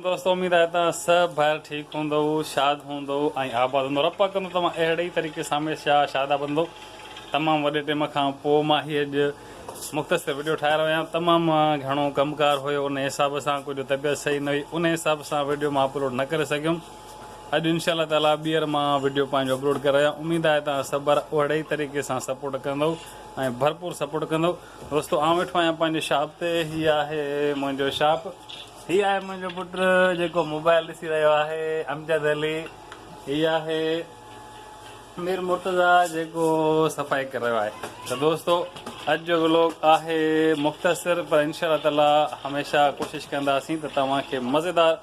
دوستو اميد آهي توهان سڀ ڀائر ٺيڪ هوندؤ شاد هوندؤ ۽ آباد هوندؤ رب پاڪ ڪندو توهان اهڙي ئي طريقي سان هميشه شاد آباد هوندؤ تمام وڏي ٽيم کان پوء مان هي اڄ مختصر وڊيو ٺاهي رهيو آهيان تمام گهڻو ڪم ڪار هيو ان حساب سان ڪجهه طبيعت صحيح نه هئي ان حساب سان وڊيو مان اپلوڊ نه ڪري سگهيم اڄ انشاء الله تعالي ٻيهر مان وڊيو پنهنجو اپلوڊ ڪري رهيو اميد آهي توهان سڀ ڀائر اهڙي ئي طريقي سان سپورٽ ڪندؤ ۽ ڀرپور سپورٽ ڪندؤ دوستو آئون ويٺو آهيان پنهنجي شاپ تي هي آهي منهنجو شاپ هي آهي منهنجو پٽ جيڪو موبائل ڏسي رهيو آهي امجد علي هي آهي مير مرتضيٰ جيڪو صفائي ڪري رهيو آهي ته دوستو اڄ جو ولوگ آهي مختصر پر انشاء الله تعالي هميشه ڪوشش ڪنداسين ته توهان کي مزيدار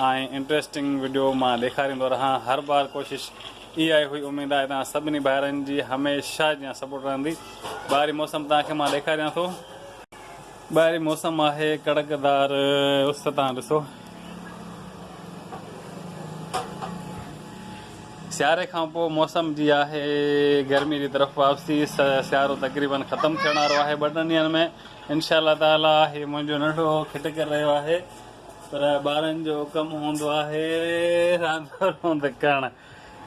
۽ انٽريسٽنگ وڊيو مان ڏيکاريندو رهان هر بار ڪوشش اهائي هئي اميد آهي توهان سڀني ڀائرن جي هميشه جيان سپورٽ رهندي ٻاهري موسم توهان کي مان ڏيکاريان ٿو. ٻاهرين موسم آهي ڪڙڪدار اس تان ڏسو سياري کان پوء موسم جي آهي گرمي جي طرف واپسي سيارو تقريبن ختم ٿيڻ وارو آهي ٻه ٽن ڏينهن ۾ انشاء الله تعالي هي منهنجو ننڍو کٽ ڪري رهيو آهي پر ٻارن جو ڪم هوندو آهي راند روند ڪرڻ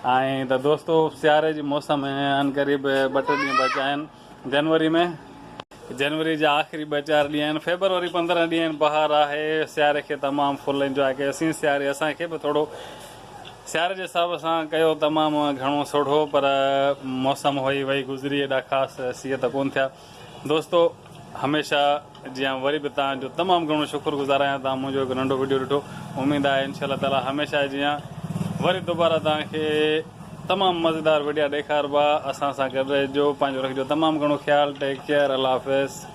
ائين ته دوستو سياري جي موسم ان قريب ٻه ٽي ڏينهن بچيا آهن جنوري ۾ جنوري جا آخري ٻه چار ڏينهن آهن فيبروري پندرهن ڏينهن آهن بهار آهي سياري کي تمام فل انجواء ڪيو سين سياري اسان کي به ٿورو سياري جي حساب سان ڪيو تمام گهڻو سوڙهو پر موسم هئي وئي گذري ايڏا خاص سيء ته ڪون ٿيا دوستو هميشه جيان وري به توهان جو تمام گهڻو شڪر گذار آهيان توهان منهنجو هڪ ننڍو وڊيو ڏٺو اميد آهي انشاء الله تعالي هميشه جيان وري دوباره توهان کي تمام مزيدار وڊيا ڏيکاربا اسان سان گڏ رهجو پنهنجو رکجو تمام گهڻو خيال ٽيڪ ڪيئر الله حافظ.